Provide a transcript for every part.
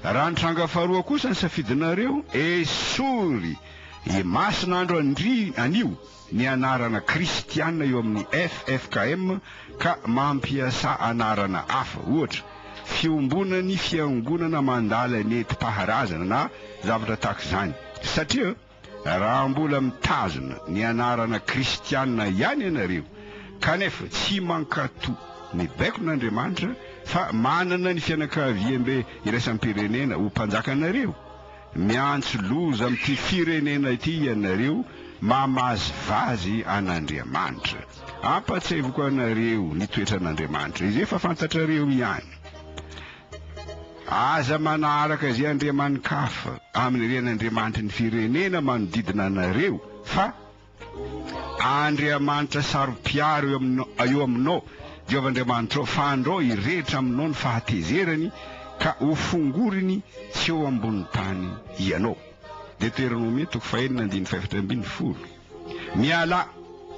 Raha ny tranga faharoa kosa ny safidinareo, esory e masina andro andry anio ny anarana kristiana eo amin'ny ffkm ka mampiasa anarana hafa, ohatra, fiombonan'ny fiangonana mandala nentim-paharazana na zavatra tahaka izany, satria. raha mbola mitazona ny anarana kristiana ihany ianareo kanefa tsy mankatò ny baikon'Andriamanitra fa manana ny fianakaviambe iraisam-pirenena ho mpanjakanareo. Miantso loza amin'ity firenena ity ianareo mamazivazy an'Andriamanitra. Ampahatsiahiviko anareo ny toetran'Andriamanitra izay efa fantatrareo ihany. Aza manaraka izay andriamani-kafa amin'ny ren'andriamanitry ny firenena manodidina anareo, fa Andriamanitra saro-piaro eo aminao, eo aminao, Jehovah Andriamanitrao, fa andrao hirehetra aminao ny fahatezerany, ka hofongoriny tsy eo ambonin'ny tany ianao. Deteronomia toko fahenina andininy fahefatra ambin'ny folo. Mialà,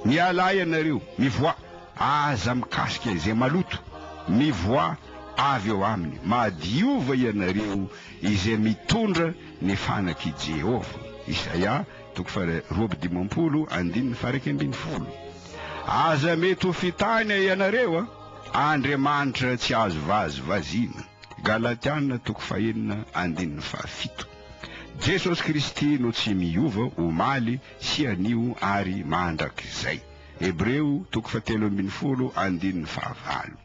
mialà ianareo, mivoà, aza mikasika izay maloto, mivoà avy eo aminy, mahadiova ianareo izay mitondra ny fanak'i Jehovah. Isaia, toko faharoa amby dimampolo, andininy faha-iraika ambin'ny folo. Aza mety ho fitàna ianareo, Andriamanitra tsy azo vazivaziana. Galatiana, toko fahenina, andininy fahafito. Jesosy Kristy no tsy miova omaly sy anio ary mandrakizay. Hebreo toko fahatelo ambin'ny folo andininy fahavalo.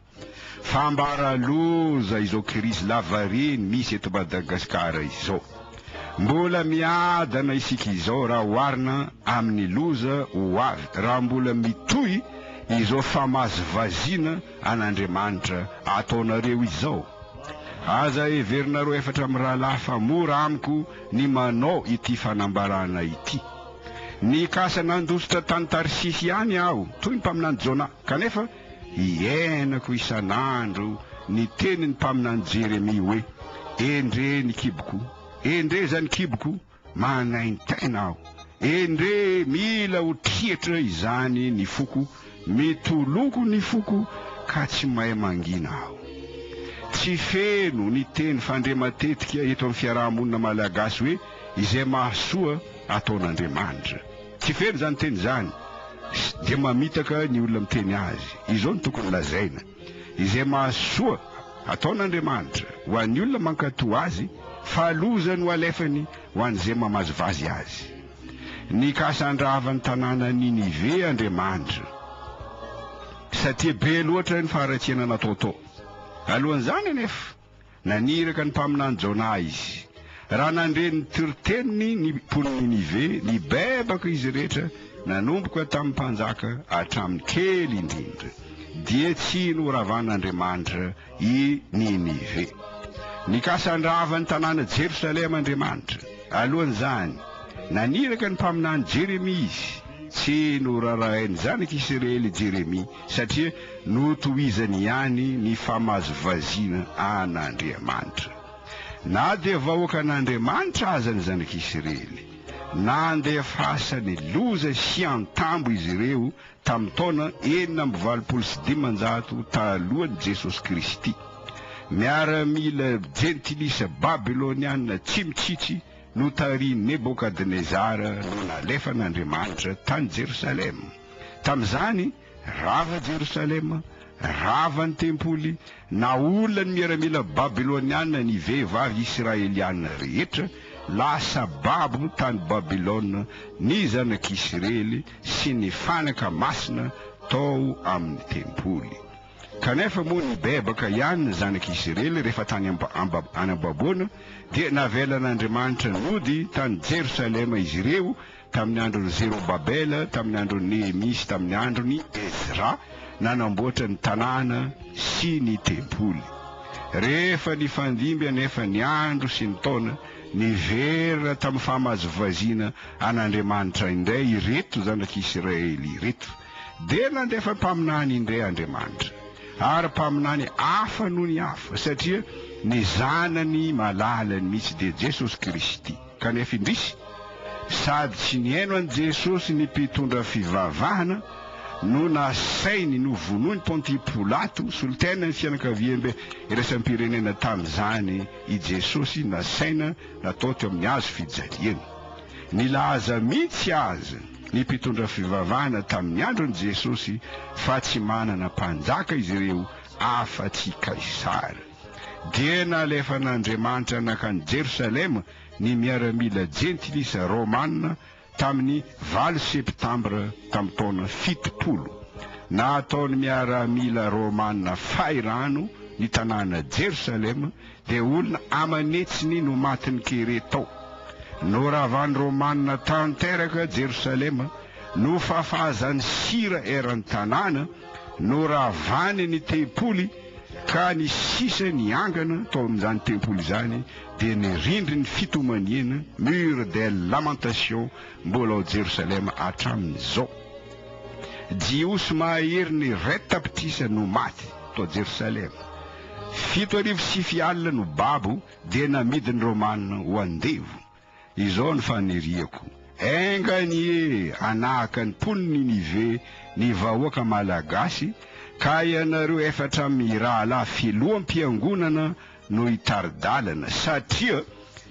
Fambara loza izao krizy lavareny misy eto Madagasikara izao. Mbola miadana isika izao raha oharina amin'ny loza ho avy raha mbola mitohy izao famazivaziana an'Andriamanitra ataonareo izao. Aza heverinareo efatra mirahalahy fa mora amiko ny manao ity fanambarana ity. Nikasa nandositra tany Tarsisy ihany aho, toy ny mpaminany Jona, kanefa hiainako isan'andro ny tenin'ny mpaminany Jeremia hoe, Endrey ny kiboko! Endrey izany kiboko! Manaintaina aho. Endrey mila ho triatra izany ny foko, mitoloko ny foko ka tsy mahay mangina aho. Tsy feno ny teny fandre matetika eto amin'ny fiaraha-monina malagasy hoe izay mahasoa ataon'Andriamanitra. Tsy feno izany teny izany dia mamitaka ny olona miteny azy. Izao no tokony lazaina. izay mahasoa ataon'Andriamanitra ho an'ny olona mankatò Azy, fa loza no alefany ho an'izay mamazivazy Azy. Nikasa handrava ny tanàna Ninive Andriamanitra, satria be loatra ny faharatsiana natao tao. Alohan'izany anefa, Naniraka ny mpaminany Jona izy. Raha nandre ny toriteniny ny mponin'i Ninive, nibebaka izy rehetra, nanomboka tamin'ny mpanjaka hatramin'ny kely indrindra, dia tsy noravan'Andriamanitra i Ninive. Nikasa handrava ny tanàna Jerosalema Andriamanitra. Alohan'izany, naniraka ny mpaminany Jeremia izy. Tsy norarahain'ny zanak'i Isiraely i Jeremia. Satria notohizany ihany ny famazovaziana an'Andriamanitra. Na dia vahoakan'Andriamanitra aza ny Zanak'Isiraely, nandefasany loza sy antambo izy ireo tamin'ny taona enina amby valopolo sy dimanjato talohan'i Jesosy Kristy. Miaramila jentilisa babyloniana tsy mitsitsy notarihin'i Nebokadnezara no nalefan'Andriamanitra tany Jerosalema. Tamin'izany, rava Jerosalema, rava ny tempoly, naolana ny miaramila babyloniana ny vehivavy israeliana rehetra, lasa babo tany Babylona ny zanak'Isrely sy ny fanaka masina tao amin'ny tempoly. Kanefa moa nibebaka ihany ny zanak'Isrely rehefa tany am-baboana, dia navelan'Andriamanitra nody tany Jerosalema izy ireo, Tamin'ny andron'i Zerobabela, tamin'ny andron'i Nehemia sy tamin'ny andron'i Ezra, nanamboatra ny tanàna sy ny tempoly. Rehefa nifandimby anefa ny andro sy ny taona, niverina tamin'ny fahamazovaziana an'Andriamanitra indray ireto zanak'i Isiraely ireto. Dia nandefa mpaminany indray Andriamanitra, ary mpaminany hafa noho ny hafa, satria ny Zanany malalany mihitsy dia Jesosy Kristy. Kanefa indrisy, sady tsy nihaino an'i Jesosy ny mpitondra fivavahana no nasainy novonoin'i Pontia Pilato, solontenan'ny fianakaviambe iraisam-pirenena tamin'izany, i Jesosy nasaina natao teo amin'ny hazo fijaliana. Nilaza mihitsy aza ny mpitondra fivavahana tamin'ny andron'i Jesosy fa tsy manana mpanjaka izy ireo afa-tsy i Kaisara. dia nalefan'Andriamanitra nankany Jerosalema ny miaramila jentilisa romana tamin'ny valo septambra tamin'ny taona fitopolo. Nataon'ny miaramila romana fay rano ny tanàna Jerosalema, dia olona aman'hetsiny no matin'ny kere tao. Noravan'ny romana tanteraka Jerosalema, nofafazany sira eran'ny tanàna, noravany ny tempoly, Ka ny sisa niangana tao amin'izany tempoly izany dia ny rindrin'ny fitomaniana, mur des lamentations, mbola ao Jerosalema hatramin'izao. Jiosy mahahery ny reta-pitisa no maty tao Jerosalema. Fito arivo sy fy alina no babo dia namidin'ny Romana ho andevo. Izao ny faniriako, enga anie hanahaka ny mponin'i Ninive ny vahoaka Malagasy ka ianareo efatra mirahalahy filoham-piangonana no hitari-dalana satria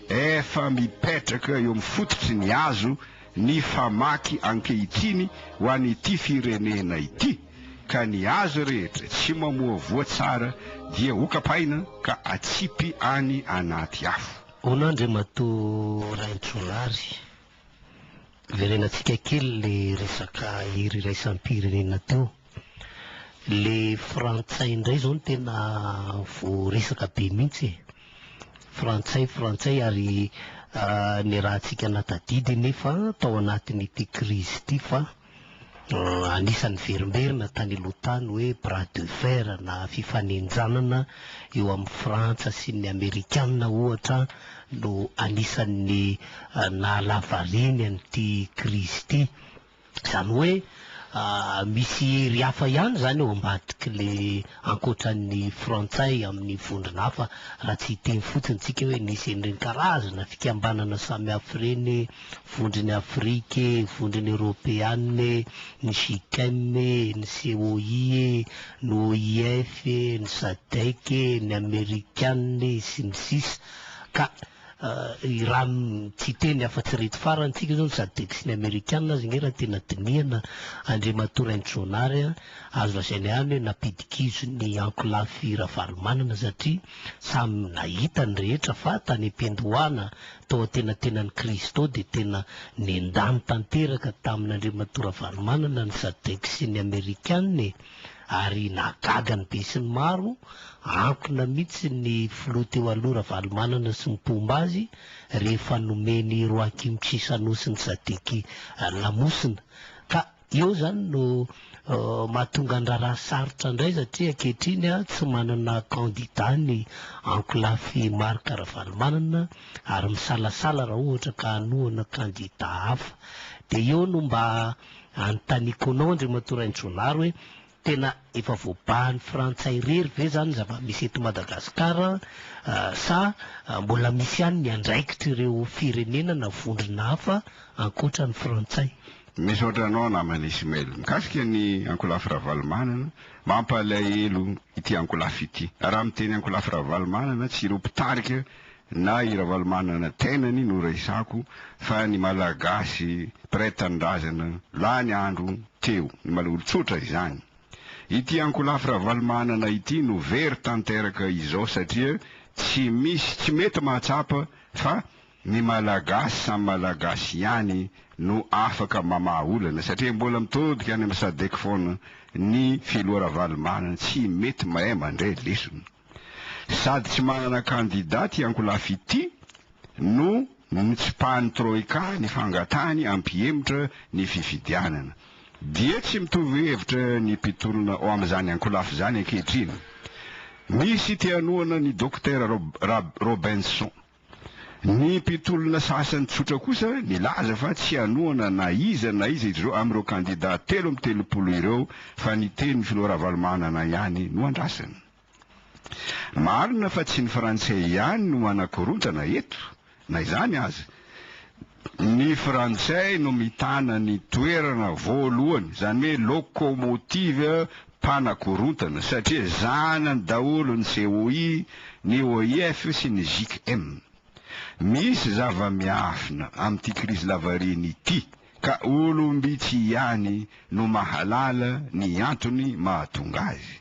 efa mipetraka eo amin'ny fototry ny hazo ny famaky ankehitriny ho an'ity firenena ity ka ny hazo rehetra tsy mamoa voa tsara dia hokapaina ka atsipy any anaty afo. Hono Andriamatoa Raintrolary, verenantsika kely le resaka hery iraisam-pirenena teo. Le frantsay indray zao no tena voaresaka be mihitsy e. Frantsay, frantsay ary niarahantsika natadidy nefa tao anatin'ity krizy ity fa Anisan'ny verimberina tany aloha tany hoe bras de fer na fifanenjanana eo amin'i Frantsa sy ny Amerikana ohatra no anisan'ny naha-la variany an'ity krizy ity. Izany hoe misy hery hafa ihany izany eo ambadik'ilay ankoatran'ny Frantsay amin'ny vondrona hafa raha tsy hiteny fotsiny isika hoe nisy an'ireny karazana fikambanana samihafa ireny vondrony Afrika e, vondrony Eoropeana e, ny Gicem e, ny COI e, ny OIF e, ny Sadec e, ny Amerikana e, sy ny sisa Ka i Ram tsy hiteny afa tsy ireto farany, tsika zao ny Sadec sy ny Amerikana aza nge raha tena dinihana Andriamatoa Rainitronary a, azo lazaina ihany hoe nampidikizo ny ankolafy Ravalomanana satria samy nahita ny rehetra fa tany am-piandohana tao antenatenan'i Kristy tao dia tena nendany tanteraka tamin'Andriamatoa Ravalomanana ny Sadec sy ny Amerikana e! ary nahagaga ny besinimaro, ankona mihitsy ny Filoha teo aloha Ravalomanana sy ny mpomba azy rehefa nomen'i Roakim Chisanosy ny Sadec lamosina ka Io izany no mahatonga ny raharaha sarotra indray satria ankehitriny tsy manana kandida ny ankolafy Marc Ravalomanana ary misalasala raha ohatra ka hanohana kandida hafa. Dia eo no mba anontaniako anao Andriamatoa Rainitronary hoe Tena efa voabahan'ny frantsay irery ve izany ny zava-misy eto Madagasikara sa mbola misy ihany ny andraikitr'ireo firenena na vondrona hafa ankoatra ny frantsay? Misaotra anao namana Ismail. Mikasika ny ankolafy Ravalomanana, mampalahelo ity ankolafy ity. Raha miteny ankolafy Ravalomanana, tsy ireo mpitarika Na i Ravalomanana tenany no resako fa ny Malagasy mpiray tanindrazana lany andro teo ny mala olon-tsotra izany. Ity ankolafy Ravalomanana ity no very tanteraka izao satria tsy misy tsy mety mahatsapa fa ny Malagasy samy Malagasy ihany no afaka mamaha olana satria mbola mitodika any amin'ny Sadec foana ny Filoha Ravalomanana tsy mety mahay mandray lesona. Sady tsy manana kandida ity ankolafy ity no nitsipahan'ny Troika ny fangatahany hampihemotra ny fifidianana. Dia tsy mitovy hevitra ny mpitolona ao amin'izany ankolafy izany ankehitriny. Misy te-hanohana ny Dokotera Rob Robenson. Ny mpitolona sasany tsotra kosa nilaza fa tsy hanohana na iza na iza ireo amin'ireo kandidà telo amby telopolo ireo fa ny tenin'ny filoha Ravalomanana ihany no andrasany. Marina fa tsy ny frantsay ihany no manakorontana eto, na izany aza. Ny frantsay no mitana ny toerana voalohany, izany hoe locomotive mpanakorontana satria zanany daholo ny COI, ny OIF sy ny JICM. Misy zava-miafina amin'ity krizy lavareny ity ka olom-bitsy ihany no mahalala ny antony mahatonga azy.